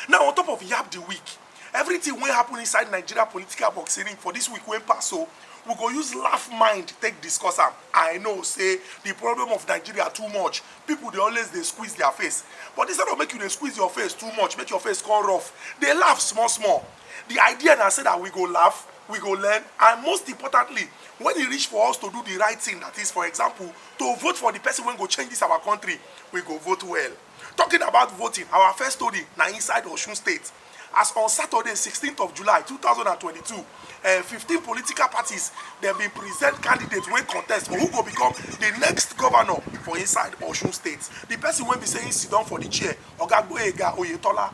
now on top of yab the week everything wey happen inside nigeria political boxing for this week wey pass so we go use laugh mind take discuss am i know say the problem of nigeria too much people dey always dey squeeze their face but instead of make you dey squeeze your face too much make your face come rough dey laugh small small The idea na say that we go laugh, we go learn, and most importantly, when e reach for us to do the right thing, that is, for example, to vote for the person wey go change this our country, we go vote well. Talking about voting, our first story na inside Osun State. As on Saturday, 16th of July, 2022, uh, 15 political parties dem bin present candidates wey contest for who go become the next governor for inside Osun State. The person wey be say he sit down for the chair, Oga Gboyega Oyetola,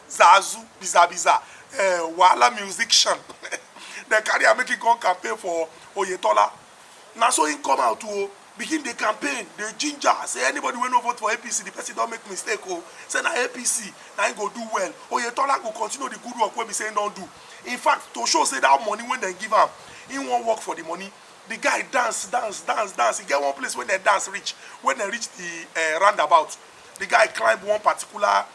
zazu biza biza uh, wahala musician dem carry am make him come campaign for oyetola na so him come out o oh, begin dey campaign dey ginger say anybody wey no vote for apc the person don make mistake o oh. say na apc na him go do well oyetola go continue the good work wey be say him don do in fact to show say that money wey dem give am him wan work for the money the guy dance dance dance dance e get one place wey dem dance reach when dem reach the uh, roundabout the guy climb one particular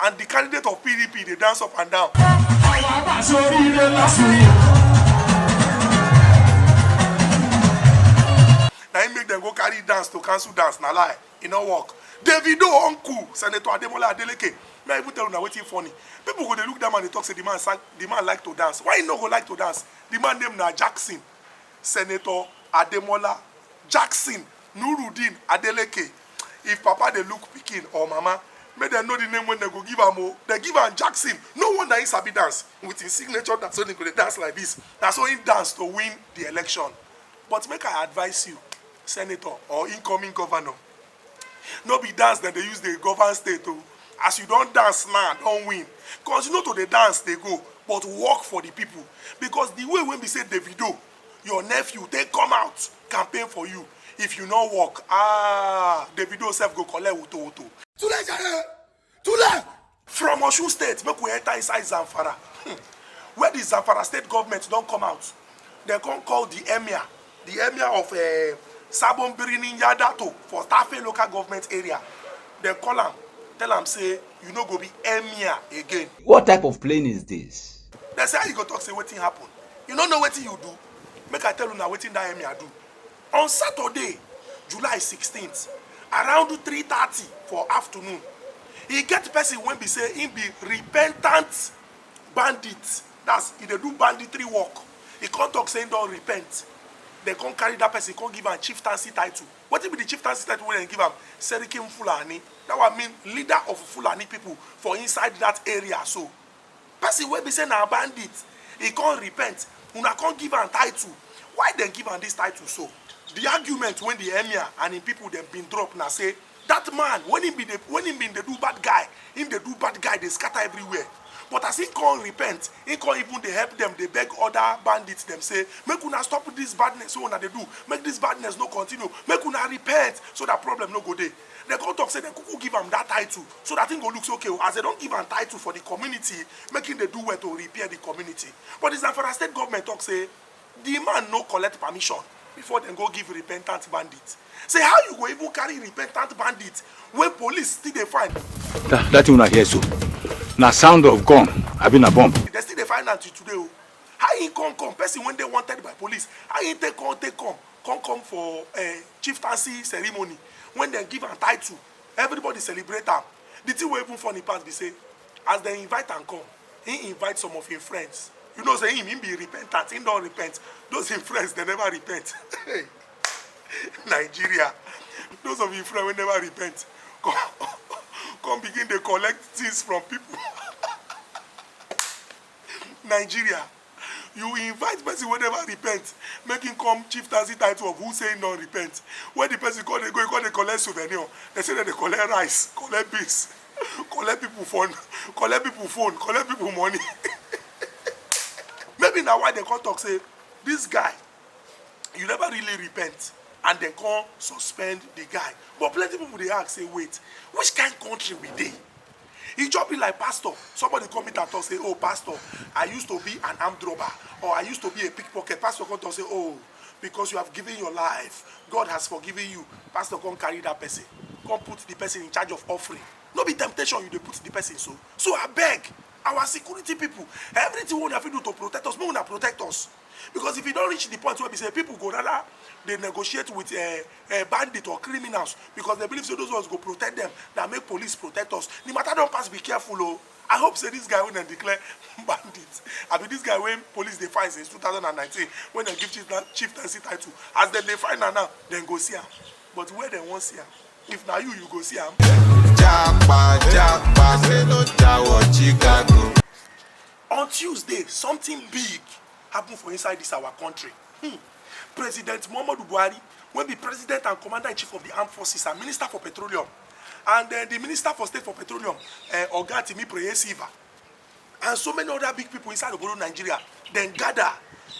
and the candidate of pdp dey dance up and down. àwọn àbàṣe oríire lásìkò. na im make dem go carry dance to cancel dance na lie e no work davido uncle senator ademola adeleke may i even tell una wetin funny people go dey look that man dey talk say the man sang the man like to dance why he no go like to dance the man name na jackson senator ademola jackson nurudeen adeleke if papa dey look pikin or mama make dem know the name wey dem go give am o dem give am jackson no wonder he sabi dance with him signature dance so he go dey dance like this na so he dance to win the election but make i advise you senator or incoming governor no be dance dem dey use dey govern state o as you don dance now don win continue to dey dance dey go but work for the people because the way wey be say davido your nephew take come out campaign for you if you no work ah davido sef go collect woto woto. tule jare tule. from osun state make we enter inside zamfara hmm. where the zamfara state government don come out dem come call the emir the emir of uh, eh, sabon birnin yadato for tafe local government area dem call am tell am say you no go be emir again. what type of plane is this. They say how you go talk say wetin happen. You no know wetin you do. Make I tell you now wetin that Emir do. On Saturday, July 16th, around 3:30 for afternoon, he get person when be say he be repentant bandit. That's he dey do banditry work. He come talk say he don repent. They come carry that person, come give am chieftaincy title. What be the chieftaincy title wey dem give am? Serikin Fulani. That one mean leader of Fulani people for inside that area so. Person wey be say na bandit, he come repent, una come give am title. Why dem give am this title so? The argument wey the emir and him people dem been drop na say that man when he been dey when he been dey do bad guy, he dey do bad guy dey scatter everywhere but as he come repent, he come even dey help dem dey beg other bandits dem say make una stop this badness wey una dey do, make this badness no continue, make una repent so that problem no go dey. dem come talk say dem kuku give am that title so that him go look say okay as dem don give am title for the community make him dey do well to repair the community but the zamfara state government talk say the man no collect permission before dem go give repentant bandit say how you go even carry repentant bandit wey police still dey find. that that thing una hear so na sound of gun abi na bomb. dem still dey find am till today o oh. how he come come person wey dey wanted by police how he take come take come come come for uh, chieftaincy ceremony when dem give am title everybody celebrate am the thing wey even funny pass be say as dem invite am come he invite some of him friends you know say him him be repentant him don repent those him friends dem never repent nigeria those of him friends wey never repent come come begin dey collect things from people nigeria you invite person wey never repent make him come chieftaincy title of who say him don repent when the person come dey go he come dey collect souvenir they say dem dey collect rice collect beans collect people phone collect people phone collect people money maybe na why dem come talk say this guy you never really repent and dem come suspend the guy but plenty people dey ask say wait which kind country we dey E just be like pastor, somebody come meet am talk say, oh pastor, I used to be an armed robber or I used to be a pickpocket. Pastor come talk say, oh, because you have given your life, God has forgiven you. Pastor come carry that person, come put the person in charge of offering. No be temptation you dey put the person so. So I beg our security people, everything wey una fit do to protect us, make una protect us. because if e don reach the point wey be say people go rather dey negotiate with uh, uh, bandit or criminals because they believe say those ones go protect them than make police protect us the matter don pass be careful o. Oh i hope say this guy wey dem declare bandit i be this guy wey police dey find since 2019 when dem give chief chieftaincy title as dem dey find am now dem go see am but where dem wan see am if na you you go see am. japa japa say no jawo chicago. On Tuesday, something big happen for inside dis our country. Hmm. President Muhammadu Buhari, wey be president and commander-in-chief of di armed forces and minister for petroleum, and uh, the minister for state for petroleum uh, oga timi preyesiva and so many other big people inside obodo nigeria dem gather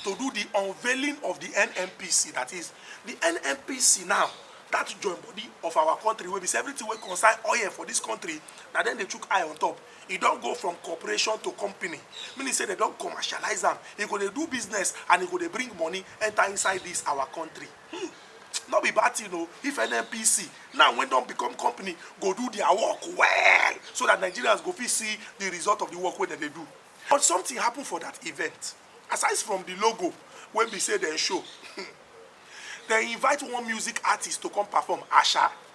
to do the unveiling of the nnpc that is the nnpc now that join body of our country wey be say everything wey concern oil for this country na dem dey chook eye on top e don go from corporation to company meaning say dem don commercialize am e go dey do business and e go dey bring money enter inside this our country hmm. no be bad thing o if nnpc now wey don become company go do their work well so that nigerians go fit see the result of the work wey dem dey do but something happen for that event aside from the logo wey be say dem show hmm, dem invite one music artist to come perform asha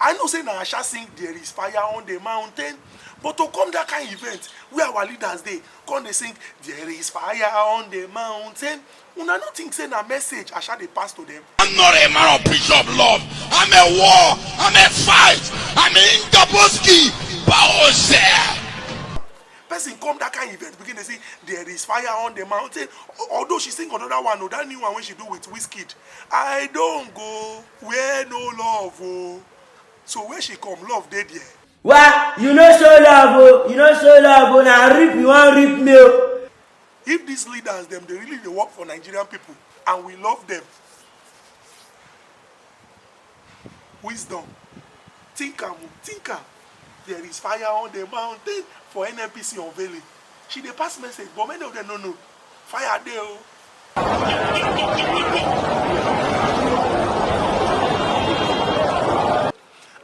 I know say na Asha sing there is fire on the mountain but to come that kind event wey our leaders dey come dey sing there is fire on the mountain una no think say na message Asha dey pass to them. I'm not a man of peace of love. I'm a war. I'm a fight. I'm a Ingaboski. Bowser. person come that kind event begin dey say there is fire on the mountain although she sing another one o that new one wey she do with Wizkid I don go. Where no love o. So where she come, love dey there. Wa you no show love o, you no show love o, na rip you wan rip me o. If these leaders dem dey really dey work for Nigerian people and we love them, wisdom, think am o, think am. There is fire on the mountain for NNPC unveiling. She dey pass message, but many of them no know. Fire dey o.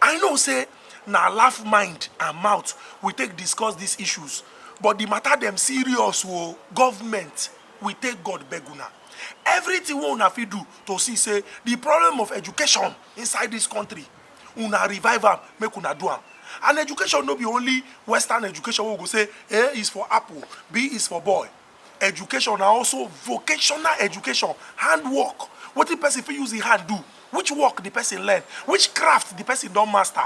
I know say na laugh mind and mouth we take discuss these issues, but the matter dem serious o. Government, we take God beg una. Everything wey una fit do to see say the problem of education inside this country una revive am make una do am and education no be only western education wey we go say a is for apple b is for boy education na also vocational education handwork wetin person fit use im hand do which work the person learn which craft the person don master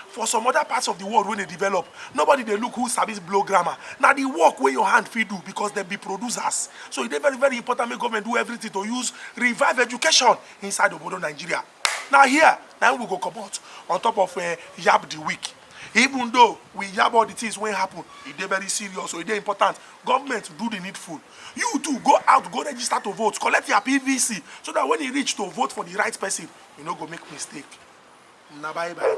for some other parts of the world wey dey develop nobody dey look who sabi blow grammar na the work wey your hand fit do because dem be producers so e dey very very important make government do everything to use revive education inside obodo nigeria na here na we go comot on top of uh, yab the week even though we yab all the things wey happen e dey very serious so e dey important government do the needful you too go out go register to vote collect your pvc so that when e reach to vote for the right person you no go make mistake na bye bye.